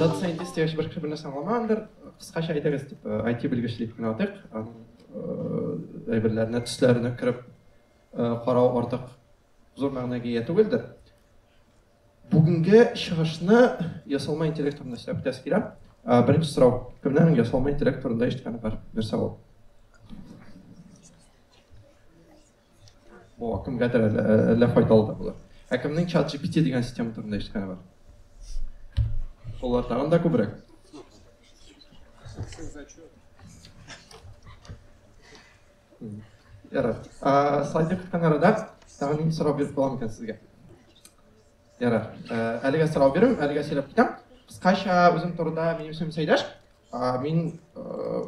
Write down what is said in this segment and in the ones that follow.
Data scientist яшь бер кеше белән саңламандыр. Кыскача әйтегез дип, IT белгечле дип кенә атыйк. Әйберләренә, төсләренә кереп карау артык зур мәгънәгә ия түгелдер. Бүгенге чыгышны ясалма интеллект турында сөйләп үтәсе килә. Беренче сорау, кемнән ясалма интеллект турында ишеткәне бар? Нәрсә ул? О, кемгәдер әллә, әллә файдалы да булыр. Ә кемнең чат GPT дигән система турында ишеткәне бар? Солар тагын да күбрәк. Ярар. Ә, слайды кыткан арада тагын нинди сорау биреп калам икән сезгә? Ярар. Ә, әлегә сорау бирәм, әлегә сөйләп китәм. Кыскача үзем турында минем исемем Сәйдәш. А, мин э,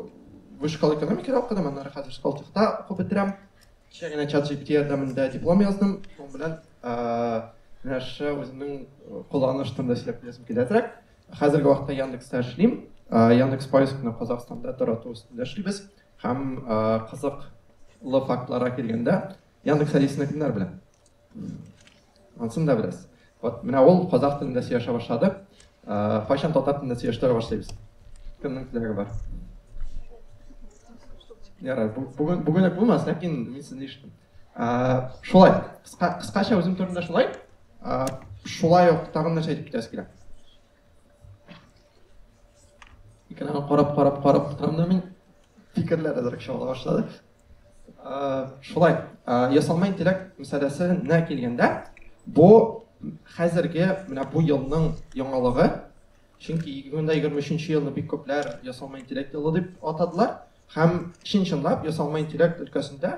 вышкал экономикада укыдым, аннары хәзер Сколтехта укып бетерәм. Кичә генә чат GPT ярдәмендә диплом яздым. Шуның белән э, нәрсә үземнең э, кулланыш турында сөйләп беләсем киләтрәк. Хәзерге вакытта Яндексда эшлим. Э, Яндекс поискны Казахстанда тарату өстендә эшлибез һәм э, кызыклы фактларга килгәндә Яндекс Алисаны кемнәр белә? Ансын да беләсез. Вот, менә ул казах телендә сөйләшә башлады. Кайчан татар телендә сөйләштерә башлыйбыз? Кемнең теләге бар? Ярар, бүген бүген үк булмас, ләкин мин сезне ишеттем. Шулай, кыска кыскача үзем турында шулай. Шулай ук тагын нәрсә әйтеп китәсе килә. Икәнен карап, карап, карап торам да мин фикерләр әзрәк чагыла башлады. шулай ясалма интеллект мәсьәләсенә килгәндә бу хәзерге менә бу елның яңалыгы чөнки ике мең дә егерме өченче елны бик күпләр ясалма интеллект елы дип атадылар һәм чын чынлап ясалма интеллект өлкәсендә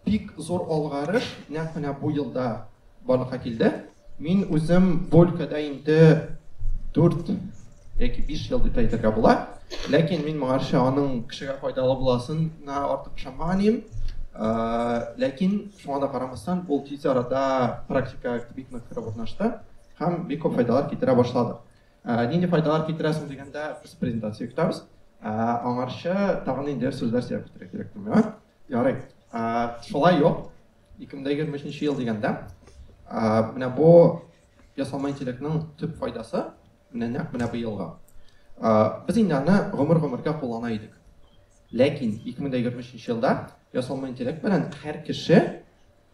Бик зур алгарыш нәкъ менә бу елда барлыкка килде. Мин үзем бу өлкәдә инде 4 яки 5 ел дип әйтергә була. Ләкин мин моңарчы аның кешегә файдалы буласына артык ышанмаганмын. Ләкин шуңа да карамастан, ул тиз арада практика бик нык кереп урнашты һәм бик күп файдалар китерә башлады. Нинди файдалар китерә соң дигәндә, без презентация көтәбез. Аңарчы тагын инде сүзләр сөйләп китәргә кирәк түгел. Ярый. Шулай юк. 2023 ел дигәндә, менә бу ясалма интеллектның төп файдасы, менә нәкъ менә бу елга. Без инде аны гомер-гомергә куллана идек. Ләкин 2023 елда ясалма интеллект белән һәр кеше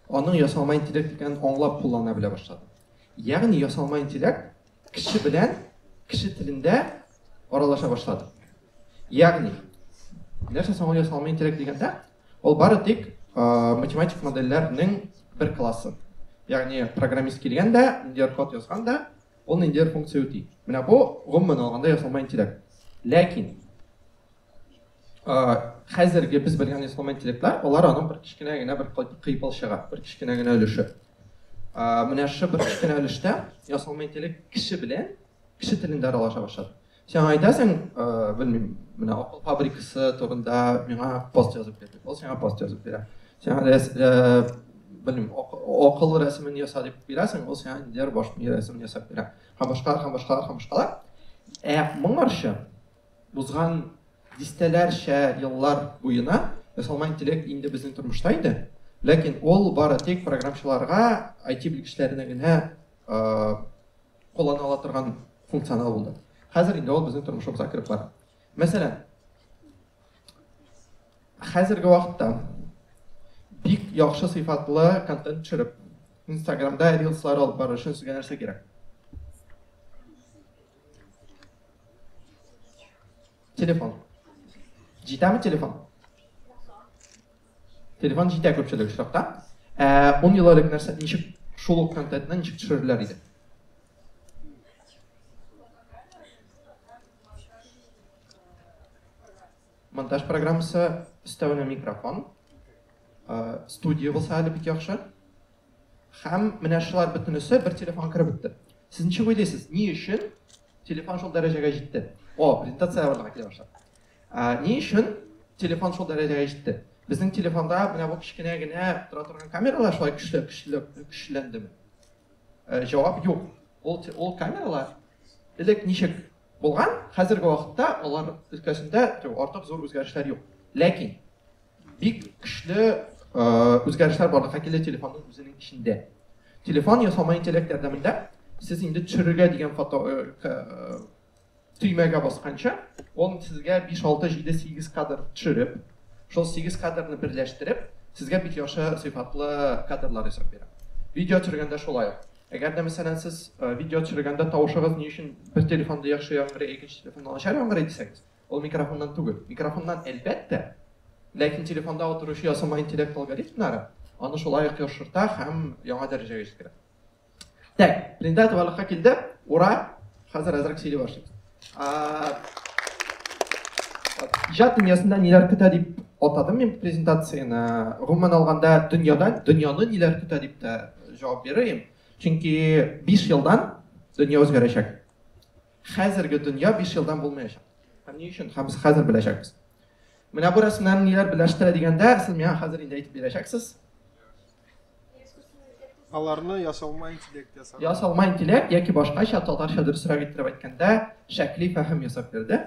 аның ясалма интеллект икәнен аңлап куллана белә башлады. Ягъни ясалма интеллект Кеше белән кеше телендә аралаша башлады. Ягъни, нәрсә соң ул ясалма интеллект дигәндә, ул бары тик математик модельләрнең бер классы. Ягъни, программист килгән дә, ниндидер код язган да, ул ниндидер функция үти. Менә бу, гомумән алганда, ясалма интеллект. Ләкин хәзерге без белгән ясалма интеллектлар, алар аның бер кечкенә генә бер кыйпылчыгы, бер кечкенә генә өлеше. Менә шушы бер кечкенә өлештә ясалма интеллект кеше белән кеше телендә аралаша башлады. Сиңа әйтәсең, белмим, менә акыл фабрикасы турында миңа пост язып бир дип, ул сиңа пост язып бирә. Сиңа белмим, акыл рәсемен яса дип бирәсең, ул сиңа дияр баш мие рәсемен ясап бирә. Һәм башкалар, һәм башкалар, һәм башкалар. Ә моңарчы Узган дистәләрчә еллар буена ясалма интеллект инде безнең тормышта иде, ләкин ул бары тик програмчыларга, IT белгечләренә генә куллана ала торган функционал булды. Хәзер инде ул безнең тормышыбызга кереп бара. Мәсәлән, хәзерге вакытта бик яхшы сыйфатлы контент төшереп, Инстаграмда рилслар алып бару өчен сезгә нәрсә кирәк? Телефон. Җитәме телефон? Телефон җитә күпчелек очракта. Ә 10 ел элек нәрсә ничек шул ук контентны ничек төшерерләр иде? Монтаж программасы өстәвенә микрофон. Студия булса әле бик яхшы. Һәм менә шулар бөтенесе бер телефон кереп бетте. Сез ничек уйлыйсыз, ни өчен телефон шул дәрәҗәгә җитте? О, презентация барлыгы килә башлады. Ә, ни өчен телефон шул дәрәҗәгә җитте? Безнең телефонда менә бу кечкенә генә тора торган камералар шулай көчле, көчле, көчләндеме? Ә, җавап юк. Ул, ул камералар элек ничек Булган, хәзерге вакытта алар өлкәсендә артык зур үзгәрешләр юк. Ләкин бик көчле үзгәрешләр барлыкка килде телефонның үзенең эчендә. Телефон ясалма интеллект ярдәмендә сез инде төшерергә дигән фото төймәгә басканча, ул сезгә 5, 6, 7, 8 кадр төшереп, шул 8 кадрны берләштереп, сезгә бик яхшы сыйфатлы кадрлар ясап бирә. Видео төшергәндә шулай ук. Әгәр дә мәсәлән сез видео төшергәндә тавышыгыз ни өчен бер телефонда яхшы яңгырый, ә икенче телефонда начар яңгырый дисәгез, ул микрофоннан түгел. Микрофоннан, әлбәттә, ләкин телефонда утыручы ясалма интеллект алгоритмнары аны шулай ук яхшырта һәм яңа дәрәҗәгә җиткерә. Так, Линда товарлыкка килде. Ура! Хәзер әзрәк сөйли башлый. Иҗат дөньясында ниләр көтә дип атадым мин презентацияне. Гомумән алганда дөньяда дөньяны ниләр көтә дип тә җавап бирәм. Чөнки 5 елдан дөнья үзгәрәчәк. Хәзерге дөнья 5 елдан булмаячак. Һәм ни өчен? Һәм без хәзер беләчәкбез. Менә бу рәсемнәр ниләр беләштерә дигәндә, сез миңа хәзер инде әйтеп бирәчәксез. Аларны ясалма интеллект ясады. Ясалма интеллект яки башкача татарча дөресрәк иттереп әйткәндә, шәкли фәһем ясап бирде.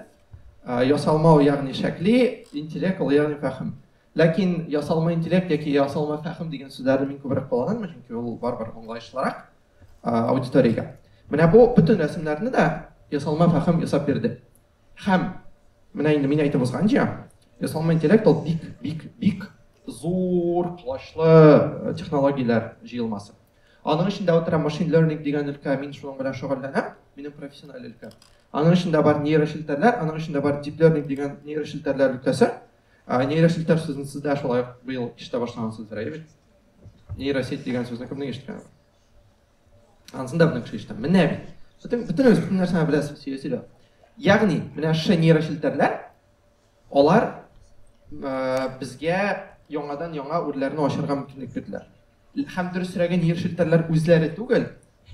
Ясалма ягъни шәкли, интеллект ул ягъни фәһем. Ләкин ясалма интеллект яки ясалма фәһем дигән сүзләрне мин күбрәк кулланам, чөнки ул барыбер аңлаешлырак аудиториягә. Менә бу бөтен рәсемнәрне дә ясалма фәһем ясап бирде. Һәм менә инде мин әйтеп узганча, ясалма интеллект ул бик, бик, бик зур колачлы э, технологияләр җыелмасы. Аның эчендә отыра машин learning дигән өлкә, мин шуның белән шөгыльләнәм, минем профессиональ өлкә. Аның эчендә бар нейрошелтәрләр, аның эчендә бар deep learning дигән нейрошелтәрләр өлкәсе. Ә, нейрошелтәр сүзен сез дә шулай быел ишетә башлагансыздыр, әйе бит? Нейросеть дигән сүзне кемнең ишеткән? Ансын да белән кеше ишетәм. Менә бит. Бөтен бөтен үз бөтен нәрсәне беләсез, сөйлә сөйлә. Ягъни, менә шы нейрочелтәрләр алар э, безгә яңадан яңа үрләрне ачарга мөмкинлек бирделәр. Һәм дөресрәге нейрочелтәрләр үзләре түгел,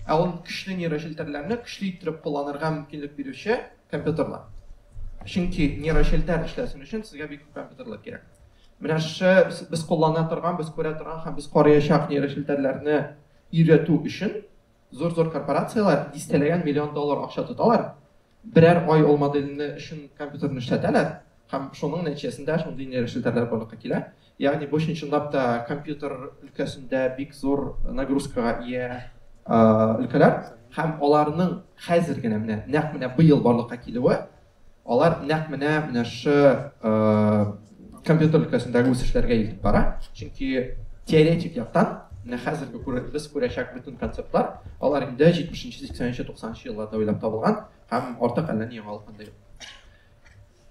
ә ул көчле нейрочелтәрләрне көчле иттереп кулланырга мөмкинлек бирүче компьютерлар. Чөнки нейрочелтәр эшләсен өчен сезгә бик күп компьютерлар кирәк. Менә шы без куллана торган, без күрә торган һәм без карыячак нейрочелтәрләрне өйрәтү өчен зур-зур корпорацияләр дистәләгән миллион доллар акча тоталар, берәр ай ул модельне өчен компьютерны эшләтәләр һәм шуның нәтиҗәсендә шундый нейрошлтәрләр барлыкка килә. Ягъни бу чын-чынлап та компьютер өлкәсендә бик зур нагрузкага ия өлкәләр һәм аларның хәзер генә менә нәкъ менә быел барлыкка килүе, Алар нәкъ менә менә шы компьютер өлкәсендәге үсешләргә илтеп бара. Чөнки теоретик яктан менә хәзерге күрер, без күрәчәк бөтен концептлар, алар инде 70-нче, 80-нче, 90-нчы елларда уйлап табылган һәм артык әллә ни яңалык анда юк.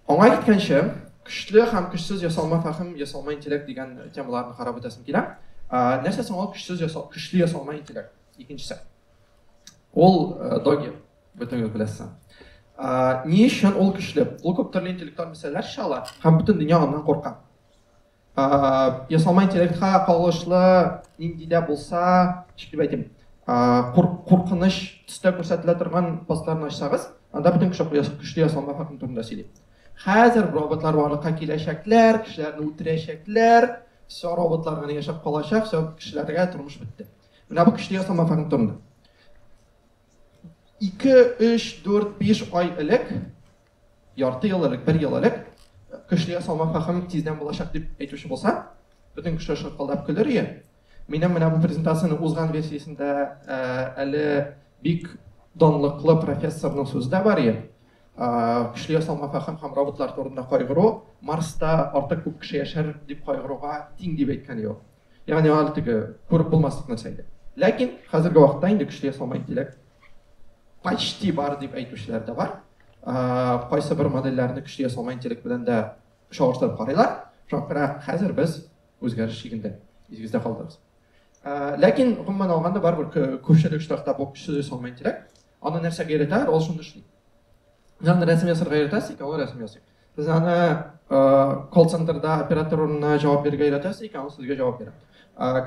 Аңа киткәнче, көчле һәм көчсез ясалма фәһем, ясалма интеллект дигән темаларны карап үтәсем килә. Нәрсә соң ул көчсез ясал, көчле ясалма интеллект? Икенчесе. Ул доги, Бөтенегез беләсез. Ни өчен ул көчле? Ул күп төрле интеллектуаль мәсьәләләр чала һәм бөтен дөнья аннан курка. Ясалма интеллектка кагылышлы нинди дә булса, ничек дип әйтим, куркыныч төстә күрсәтелә торган постларны ачсагыз, анда бөтен көчле ясалма факт турында сөйли. Хәзер роботлар барлыкка киләчәкләр, кешеләрне үтерәчәкләр, все роботлар гына яшәп калачак, все кешеләргә тормыш бетте. Менә бу көчле ясалма факт турында. Ике, өч, дүрт, биш ай элек, ярты ел элек, бер ел элек, көчле ясалма фәһем тиздән булачак дип әйтүче булса, бөтен кеше шаркылдап көлер ие. Минем менә бу презентацияне узган версиясендә ә, әле бик данлыклы профессорның сүзе дә бар ие. Көчле ясалма фәһем һәм роботлар турында кайгыру Марста артык күп кеше яшәр дип кайгыруга тиң дип әйткән ие. Ягъни аны теге күреп булмаслык нәрсә иде. Ләкин хәзерге вакытта инде көчле ясалма интеллект почти бар дип әйтүчеләр дә бар. Кайсы бер модельләрне көчле ясалма интеллект белән дә чагыштырып карыйлар. Шуңа хәзер без үзгәреш шигендә, изгездә калдыгыз. Ләкин гомумән алганда барыбер күпчелек штатта бу көчле ясалма интеллект. Аны нәрсәгә өйрәтәләр, ул шуны эшли. Ягъни рәсем ясарга өйрәтәсең, икәү рәсем ясый. Без аны колл-центрда оператор урынына җавап бирергә өйрәтәбез икән, ул сезгә җавап бирә.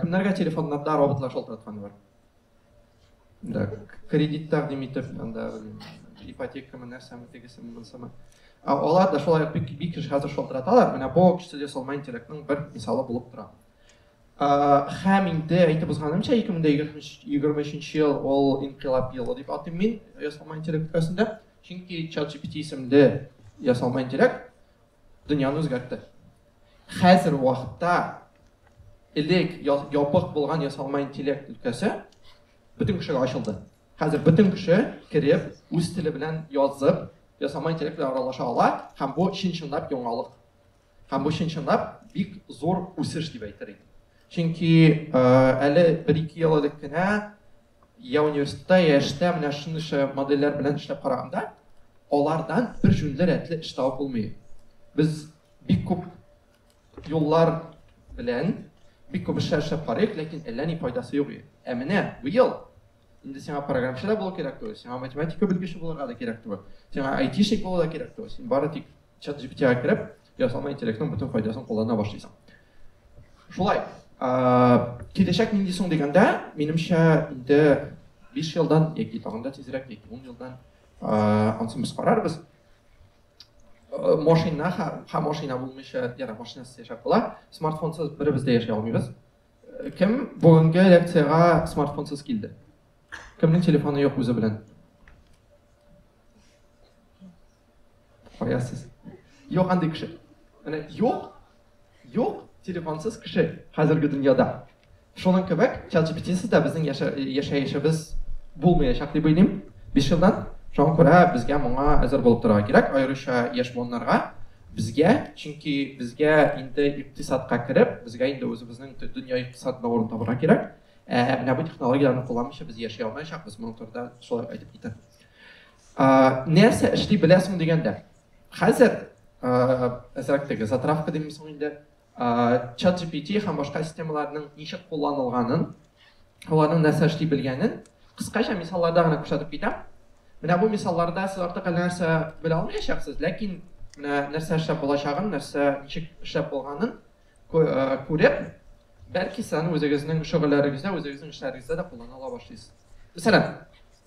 Кемнәргә телефоннарда роботлар шалтыратканы бар? Да, кредит тәкъдим итеп, анда ипотекамы, нәрсәме, тегесеме, монсымы. Алар да шулай бик бик еш хәзер шалтыраталар. Менә бу кичтә ясалма интеллектның бер мисалы булып тора. Һәм инде әйтеп узганымча, 2023 ел ул инкыйлаб елы дип атыйм мин ясалма интеллект өлкәсендә. Чөнки ChatGPT исемле ясалма интеллект дөньяны үзгәртте. Хәзер вакытта элек ябык булган ясалма интеллект өлкәсе бөтен кешегә ачылды. Хәзер бөтен кеше кереп, үз теле белән язып, ясалма интеллект белән аралаша ала һәм бу чын-чынлап яңалык. Һәм бу чын-чынлап бик зур үсеш дип әйтер идем. Чөнки әле бер-ике ел элек кенә Я университетта, я эштә менә шундыйча модельләр белән эшләп караганда, алардан бер җүнле рәтле эш табып булмый. Без бик күп юллар белән бик күп эшләр эшләп карыйк, ләкин әллә ни файдасы юк. Ә менә быел инде сиңа программчы да булу кирәк түгел, сиңа математика белгече булырга да кирәк түгел, сиңа айтишник булу да кирәк түгел, син бары тик чат GPT-га кереп, ясалма интеллектның бөтен файдасын куллана башлыйсың. Шулай, киләчәк нинди соң дигәндә, минемчә, инде 5 елдан яки тагын да тизрәк, яки 10 елдан ансын без карарбыз. Машина һәм машина булмыйча, яра машинасыз яшәп була, смартфонсыз беребез дә яшәй алмыйбыз. Кем бүгенге лекциягә смартфонсыз килде? Кемнең телефоны юк үзе белән? Каясыз. Юк андый кеше. Менә юк, юк телефонсыз кеше хәзерге дөньяда. Шуның кебек чат-GPT-сыз да безнең яшәешебез булмаячак дип уйлыйм. Биш елдан шуңа күрә безгә моңа әзер булып торырга кирәк, аеруча яшь буыннарга. Безгә, чөнки безгә инде икътисадка кереп, безгә инде үзебезнең дөнья икътисадында урын табырга кирәк. Ә менә бу технологияләрне кулланмыйча без яши алмаячакбыз, моның турында шулай әйтеп китә. Ә, нәрсә эшли беләсең дигәндә. Хәзер әзрәк теге затравка димме соң инде, чат GPT һәм башка системаларның ничек кулланылганын, аларның нәрсә эшли белгәнен кыскача мисалларда гына күрсәтеп китәм. Менә бу мисалларда сез артык әллә нәрсә белә алмаячаксыз, ләкин менә нәрсә эшләп булачагын, нәрсә ничек эшләп булганын күреп, бәлки саны үзегезнең шөгыльләрегездә, үзегезнең эшләрегездә дә куллана ала башлыйсыз. Мәсәлән,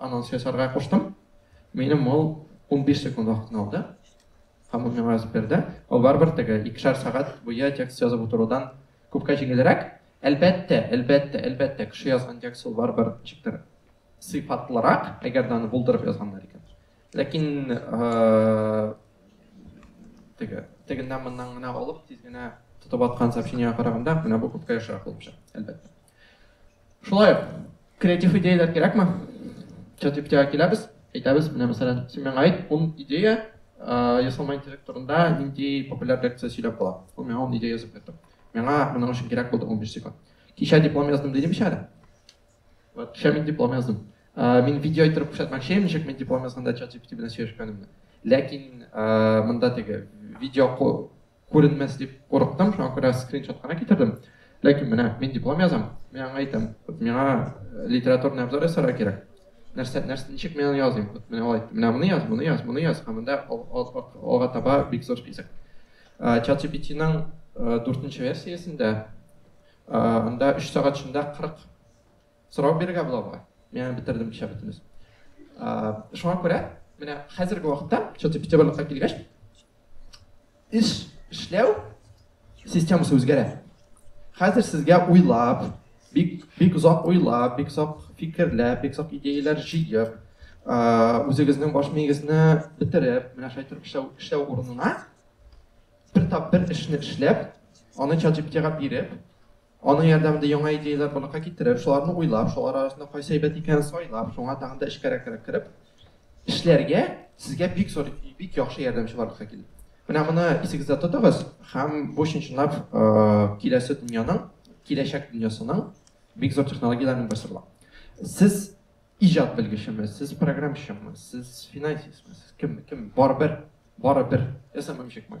Анонс ясарга куштым. Минем ул 15 секунд вакытны алды. Һәм ул миңа язып бирде. Ул барыбер теге икешәр сәгать буе текст язып утырудан күпкә җиңелрәк. Әлбәттә, әлбәттә, әлбәттә, кеше язган текст ул барыбер ничектер сыйфатлырак, әгәр дә аны булдырып язганнар икән. Ләкин э, теге тегеннән моннан гына алып, тиз генә тотып аткан сообщениегә караганда, менә бу күпкә яхшырак булып чыга, әлбәттә. Шулай ук, креатив идеяләр кирәкме? ChatGPT-га киләбез, әйтәбез, менә мәсәлән, син миңа әйт, ун идея ясалма интеллект турында нинди популяр лекция сөйләп була. Ул миңа ун идея язып бирде. Миңа моның өчен кирәк булды 15 секунд. Кичә диплом яздым дидем әле. Вот, кичә мин диплом яздым. Мин видео иттереп күрсәтмәкче, ничек мин диплом язганда ChatGPT белән сөйләшкәнемне. Ләкин монда теге видео Күренмәс дип курыктым, шуңа күрә скриншот кына китердем. Ләкин менә мин диплом язам. Мин аңа әйтәм, вот миңа литературный обзор ясарга кирәк. Нәрсә, нәрсә, ничек мин аны языйм? Вот менә алай, менә моны яз, моны яз, моны яз, һәм монда алга таба бик зур список. Чат GPT-ның дүртенче версиясендә анда 3 сәгать эчендә 40 Сорау бирергә була бугай. Мин аны бетердем кичә бөтенес. Шуңа күрә, менә хәзерге вакытта, чоты Петербургка килгәч, эш эшләү системасы үзгәрә. Хәзер сезгә уйлап, бик бик озак уйлап, бик озак фикерләп, бик озак идеяләр җыеп, үзегезнең баш миегезне бетереп, менә шулай торып эшләү, эшләү урынына бер тап бер эшне эшләп, аны чат җиптига биреп, Аның ярдәмендә яңа идеяләр барлыкка китереп, шуларны уйлап, шулар арасында кайсы әйбәт икәнен сайлап, шуңа тагын да эчкәрәкрәк кереп эшләргә сезгә бик зур, бик яхшы ярдәмче барлыкка килде. Менә моны исегездә тотыгыз һәм бу чынчынлап киләсе дөньяның, киләчәк дөньясының бик зур технологияләрнең берсе була. Сез иҗат белгечеме, сез программщикмы, сез финансистмы, сез кем, кем, барыбер, барыбер, я сам помещик мой.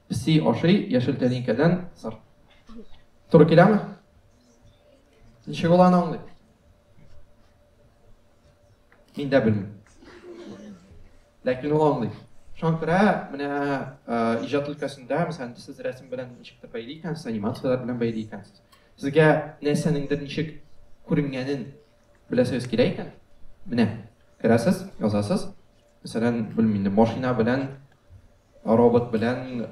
Песи ашый яшел тәлинкәдән сыр. Туры киләме? Ничек ул аны аңлый? Мин дә белмим. Ләкин ул аңлый. Шуңа күрә менә э, иҗат өлкәсендә, мәсәлән, сез рәсем белән ничектер бәйли икәнсез, анимацияләр белән бәйли икәнсез. Сезгә нәрсәнеңдер ничек күренгәнен беләсегез килә икән? Менә, керәсез, язасыз. Мәсәлән, белмим инде, машина белән Робот белән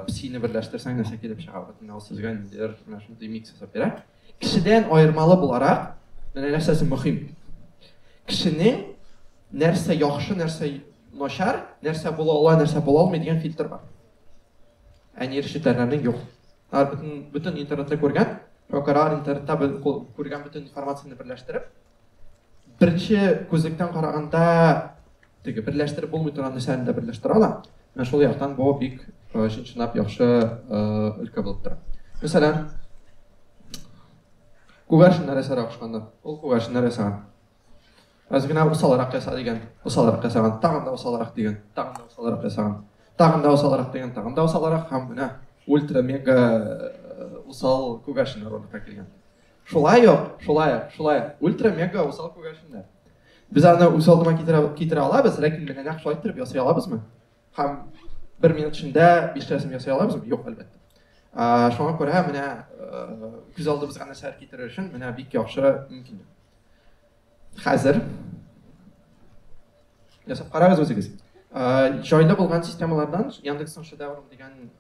псины берләштерсәң нәрсә килеп чыга? Бөтенләй ул сезгә ниндидер менә шундый микс ясап бирә. Кешедән аермалы буларак, менә нәрсәсе мөһим. Кешенең нәрсә яхшы, нәрсә начар, нәрсә була ала, нәрсә була алмый дигән фильтр бар. Ә нейрочетләрнең юк. Алар бөтен бөтен интернетта күргән, прокурор интернетта күргән бөтен информацияне берләштереп, Беренче күзлектән караганда теге берләштереп булмый торган нәрсәне дә берләштерә ала. Менә шул яктан бу бик э, чынчынап яхшы э, өлкә булып тора. Мәсәлән, күгәрченнәр ясарак ошканда, ул күгәрченнәр ясаган. Аз генә усалрак яса дигән, усалрак ясаган, тагын да усалрак дигән, тагын да усалрак ясаган, тагын да усалрак дигән, тагын да усалрак һәм менә ультра-мега э, усал күгәрченнәр урынга килгән. Шулай ук, шулай ук, шулай ук, ультра-мега усал күгәрченнәр. Без аны үз алдыма китерә, китерә алабыз, ләкин менә нәкъ шулай иттереп ясый алабызмы? Һәм бер минут эчендә биштәсен ясый алабызмы? Юк, әлбәттә. Ә, шуңа күрә менә күз алдыбызга нәрсәләр китерер өчен менә бик яхшы мөмкинлек. Хәзер ясап карагыз үзегез. Җайлы булган системалардан Яндексның шедевром дигән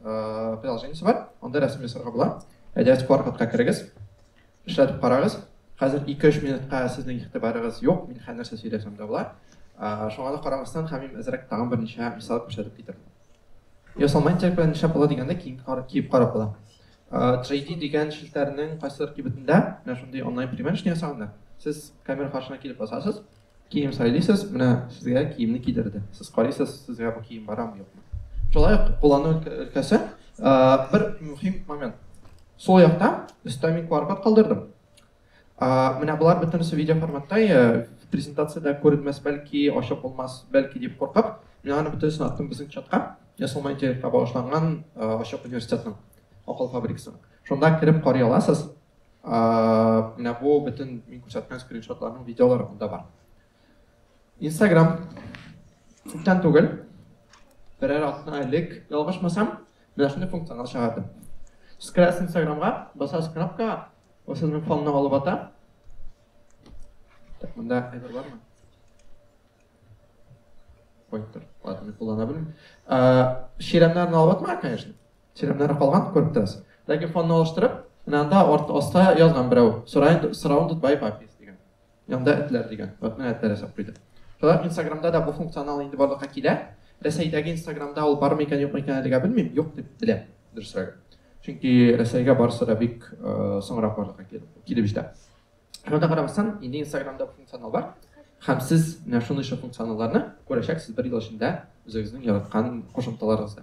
приложениесе бар. Анда рәсем ясарга була. Әдәс паркатка керегез. Эшләтеп карагыз. Хәзер 2-3 минутка сезнең игътибарыгыз юк, мин хәзер нәрсә сөйләсәм дә була. Шуңа да карамастан, Хәмим әзрәк тагын берничә мисал күрсәтеп китерде. Ясалма интеллект белән эшләп була дигәндә киеп карап була. 3D дигән челтәрнең кайсыдыр кибетендә менә шундый онлайн примерочный ясаганнар. Сез камера каршына килеп басасыз, кием сайлыйсыз, менә сезгә киемне кидерде. Сез карыйсыз, сезгә бу кием барамы, юкмы. Шулай ук куллану өлкәсе бер мөһим момент. Сул якта өстә мин QR-код калдырдым. А, менә болар бөтенесе видео форматта, я, презентацияда күренмәс, бәлки ачык булмас, бәлки дип куркып, мин аны бөтенесен аттым безнең чатка, ясалма интеллектка багышланган ачык университетның, акыл фабрикасының. Шунда кереп карый аласыз. А, менә бу бөтен мин күрсәткән скриншотларның видеолары монда бар. Instagram күптән түгел, берәр атна элек, ялгышмасам, менә шундый функционал чыгарды. Скрас Instagramга, басасыз кнопка, Ул сезнең фонны алып ата. Так, монда әйбер бармы? Ой, тор. Ладно, мин куллана белмим. Чирәмнәрне алып атма, конечно. Чирәмнәре калган, күреп торасыз. Ләкин фонны алыштырып, менә анда арт аста язган берәү. Сорай, сорауын тотбай папис дигән. Янда этләр дигән. Вот менә этләр ясап куйды. Шулай инстаграмда да бу функционал инде барлыкка килә. Рәсәйдәге инстаграмда ул бармы икән, юкмы икән әлегә белмим, юк дип беләм, дөресрәге. Чөнки Рәсәйгә барысы да бик соңрак барлыкка килеп җитә. Шуңа да карамастан, инде инстаграмда бу функционал бар. Һәм сез менә шундый шундый функционалларны күрәчәксез бер ел эчендә үзегезнең яраткан кушымталарыгызда.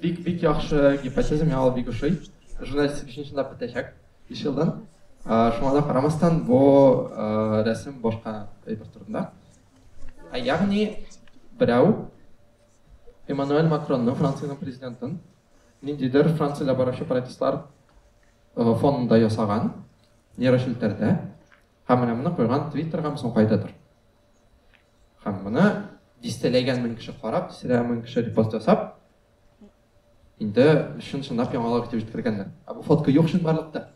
Бик бик яхшы гипотеза, миңа ул бик ошый. Журналистик бишенче сынап бетәчәк биш елдан. Шуңа да карамастан, бу рәсем башка әйбер турында. Ә ягъни берәү Эммануэль Макронны, Франциянең президентын, ниндидер Франциядә баручы протестлар фонында ясаган нейрошелтәрдә һәм менә моны куйган Твиттерга, соң кайдадыр. Һәм моны дистәләгән мең кеше карап, дистәләгән мең кеше репост ясап, инде чын-чынлап яңалык итеп җиткергәннәр. Ә бу фотка юк чынбарлыкта.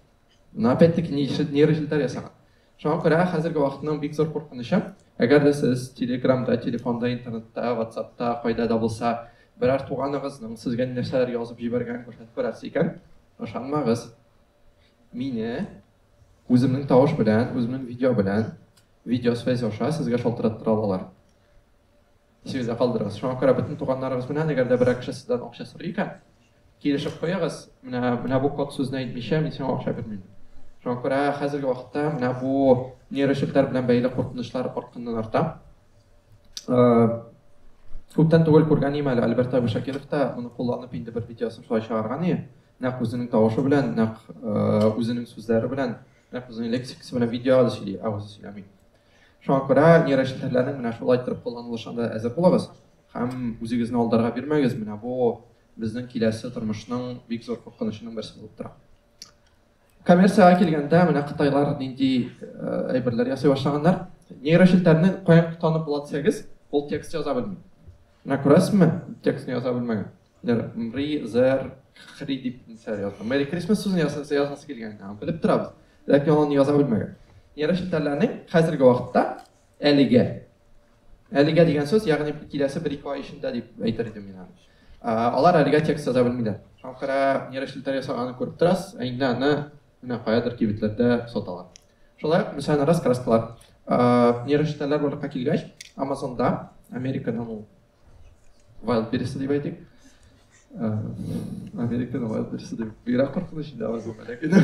Но опять-таки нейрожелтәр ясаган. Шуңа күрә хәзерге вакытның бик зур куркынычы, әгәр дә сез телеграмда, телефонда, интернетта, ватсапта, кайда да булса, берәр туганыгызның сезгә нәрсәләр язып җибәргәнен күрсәтеп күрәсез икән, ышанмагыз. Мине үземнең тавыш белән, үземнең видео белән, видео связь аша сезгә шалтыраттыра алалар. Исегездә калдырыгыз. Шуңа күрә бөтен туганнарыгыз белән, әгәр дә берәр кеше сездән акча сорый икән, килешеп куегыз, менә менә бу код сүзне әйтмичә мин сиңа акча бирмим. Шуңа күрә хәзерге вакытта менә бу нейрочиплар белән бәйле куркынычлар артканнан арта. Күптән түгел күргән ием әле Альберт Абишакиров та моны кулланып инде бер видеосын шулай чыгарган ие. Нәкъ үзенең тавышы белән, нәкъ үзенең сүзләре белән, нәкъ үзенең лексикасы белән видеога да сөйли, ә үзе сөйләми. Шуңа күрә нейрочелтәрләрнең менә шулай итеп кулланылышына да әзер булыгыз һәм үзегезне алдарга бирмәгез. Менә бу безнең киләсе тормышның бик зур куркынычының берсе булып тора. Коммерциягә килгәндә, менә кытайлар нинди әйберләр ясый башлаганнар. Нейрочелтәрне каян танып була дисәгез, ул текст яза белми. Менә күрәсезме, текстны яза белмәгән. Мри, Зәр, Хри дип нәрсәләр язган. Merry Christmas сүзен язасы язасы килгән. Белеп торабыз. Ләкин аны яза белмәгән. Нерв челтәрләренең хәзерге вакытта әлегә әлегә дигән сүз, ягъни киләсе бер ике ай эчендә дип әйтер идем мин аны. Алар әлегә текст яза белмиләр. Халыкара нерв челтәр ясаганын күреп торасыз, ә инде аны менә каядыр кибетләрдә саталар. Шулай ук мәсәлән раскраскалар. Нерв челтәрләр барлыкка килгәч, Амазонда, Америкадан ул Вайлд биресе дип әйтик. Э, Америкада вайлд биресе дип бигрәк куркыныч инде алар булган ләкин.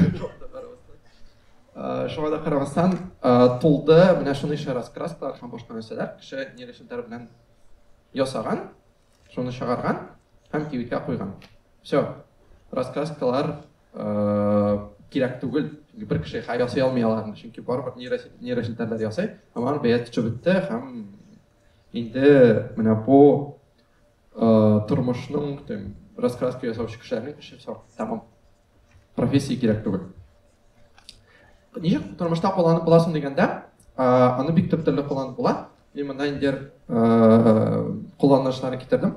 Э, шуңа да карамастан э, тулды менә шуныңча раскрастар һәм башка нәрсәләр кеше ниле шәтәр белән ясаган, шуны чыгарган һәм кибеткә куйган. Все. Раскраскалар кирәк түгел. Чөнки бер кеше хәя ясый алмый аларны, чөнки барыбер нейросетьләр ясый, һәм алар бәя төшеп бетте һәм Инде менә бу тормышның тем раскраска ясаучы кешеләрнең эше сор тәмам профессия кирәк түгел ничек тормышта кулланып буласың дигәндә аны бик төп төрле кулланып була мин монда инде кулланышларын китердем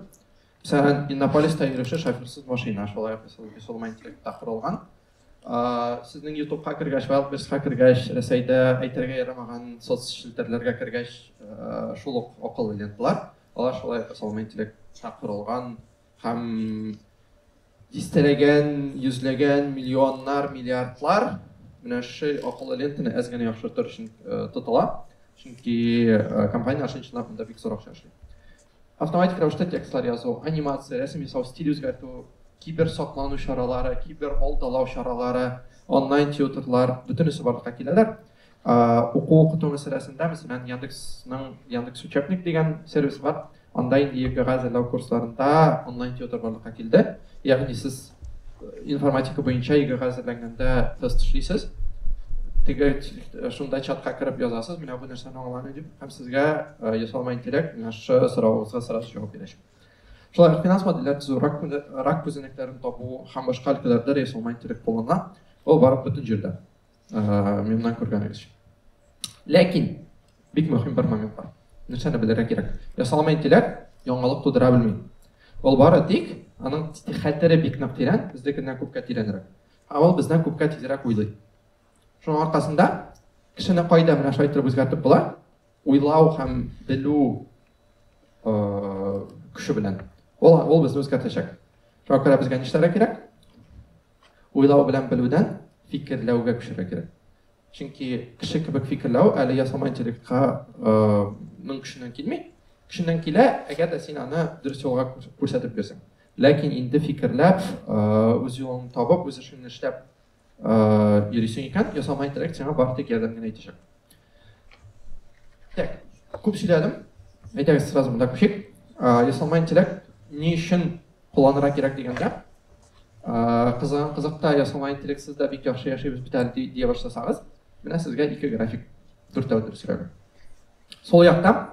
мәсәлән иннополиста йөрүче шоферсыз машина шулай ук интеллектта корылган Сезнең ютубка кергәч, вайлдбердска кергәч, Рәсәйдә әйтергә ярамаган соцчелтәрләргә кергәч, шул ук акыллы ленталар. Алар шулай ук ясалма интеллектка корылган һәм дистәләгән, йөзләгән, миллионнар, миллиардлар менә шушы акыллы лентаны әз генә яхшыртыр өчен тотыла. Чөнки компанияләр чын-чынлап монда бик зур акча эшли. Автоматик рәвештә текстлар язу, анимация, рәсем ясау, стиль үзгәртү, киберсаклану чаралары, кибералдалау чаралары, онлайн-тьютерлар, бөтенесе барлыкка киләләр. Уку-укыту мәсьәләсендә, мәсәлән, Яндексның Яндекс Учебник дигән сервисы бар. Анда инде ЕГЭга әзерләү курсларында онлайн-тьютер барлыкка килде. Ягъни сез информатика буенча егерга әзерләнгәндә тест эшлисез теге э, шунда чатка кереп язасыз менә бу нәрсәне аңламый дип һәм сезгә э, ясалма интеллект менә шы соравыгызга сразу җавап бирәчәк шулай финанс модельләр төзү рак, рак күзәнәкләрен табу һәм башка өлкәләрдә ясалма интеллект кулланыла ул барып бөтен җирдә Мемнан күргәнегез. Ләкин, бик мөһим бер момент бар. Нәрсәне белергә кирәк? Ясалма интеллект яңалык тудыра белми. Ул бары тик аның хәтере бик нык тирән, безнекеннән күпкә тирәнрәк. Ә ул бездән күпкә тизрәк уйлый. Шуның аркасында кешене кайда менә шулай итеп үзгәртеп була, Уйлау һәм белү көче белән. Ул, ул безне үзгәртәчәк. Шуңа күрә безгә нишләргә кирәк? Уйлау белән белүдән фикерләүгә күчәргә кирәк. Чөнки кеше кебек фикерләү әле ясалма интеллектка ның көченнән килми. Көченнән килә, әгәр дә син аны дөрес юлга күрсәтеп бирсәң. Ләкин инде фикерләп, үз юлын табып, үз эшен эшләп йөрисең икән, ясалма интеллект сиңа бары тик ярдәм генә итәчәк. Так, күп сөйләдем. Әйтәгез сразу монда күчик. Ясалма интеллект ни өчен кулланырга кирәк дигәндә, кызыган кызыкта ясалма интеллектсыз да бик яхшы яшибез бит әле дия башласагыз, менә сезгә ике график, дүртәү дөрес график. Сол якта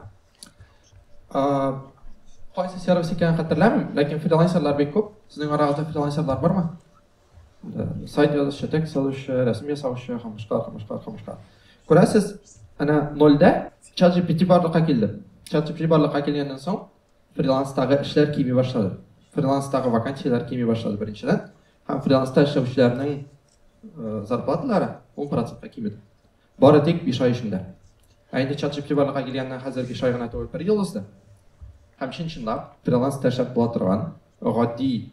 кайсы сервис икәнен хәтерләмим, ләкин фрилансерлар бик күп. Сезнең арагызда фрилансерлар бармы? Сайт язучы, текст язучы, рәсем ясаучы, камышка, камышка, камышка. Күрәсез, әнә нольдә чат GPT барлыкка килде. Чат GPT барлыкка килгәннән соң фриланстагы эшләр кими башлады. Фриланстагы вакансияләр кими башлады беренчедән. Һәм фриланста эшләүчеләрнең э, зарплаталары 10%-ка кимеде. Бары тик 5 ай эчендә. Ә инде чат GPT барлыкка килгәннән хәзер 5 ай гына түгел, 1 ел узды. Һәм чын-чынлап фриланста эшләп була торган гади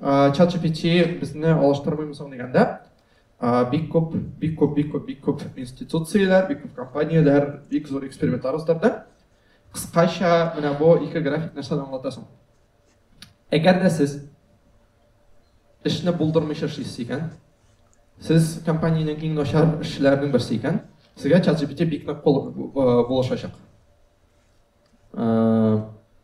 чат gpt безне алыштырмыймы соң дигәндә бик күп бик күп бик күп бик күп институцияләр бик күп компанияләр бик зур экспериментлар уздырды кыскача менә бу ике график нәрсәне аңлата соң әгәр дә сез эшне булдырмыйча эшлисез икән сез компаниянең иң начар эшчеләренең берсе икән сезгә чат gpt бик нык булышачак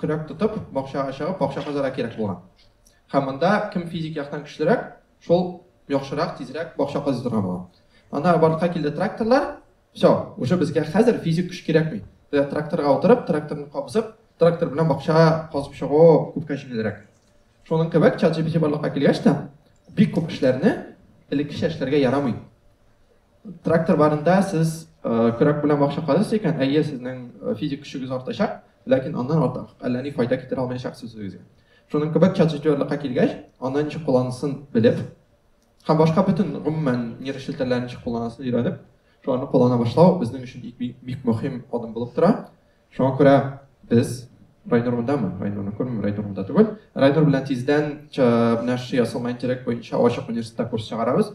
Көрәк тотып, бакчага чыгып, бакча казарга кирәк булган. Һәм монда кем физик яктан көчлерәк, шул яхшырак, тизрәк бакча казый торган булган. Ана барлыкка килде тракторлар, все, уже безгә хәзер физик көч кирәкми. Безгә тракторга утырып, тракторны кабызып, трактор белән бакча казып чыгу күпкә җиңелрәк. Шуның кебек ChatGPT барлыкка килгәч тә, бик күп эшләрне элеккечә эшләргә ярамый. Трактор барында сез көрәк белән бакча казыйсыз икән, әйе, сезнең физик көчегез артачак, ләкин аннан артык әллә ни файда китерә алмаячаксыз үзегезгә. Шуның кебек чатҗитерлыкка килгәч, аны ничек кулланысын белеп, һәм башка бөтен гомумән нерв челтәрләрен ничек кулланысын өйрәнеп, шуларны куллана башлау безнең өчен бик, бик мөһим адым булып тора. Шуңа күрә без Райнур мондамы? Райнурны күрмим, Райнур монда түгел. Райнур белән тиздән менә шушы ясалма интеллект буенча ачык университетта курс чыгарабыз.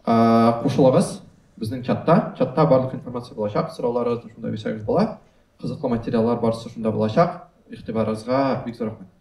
Кушылыгыз безнең чатта. Чатта барлык информация булачак, сорауларыгызны шунда бирсәгез була. Кызыклы материаллар барысы шунда булачак. Игътибарыгызга бик зур рәхмәт.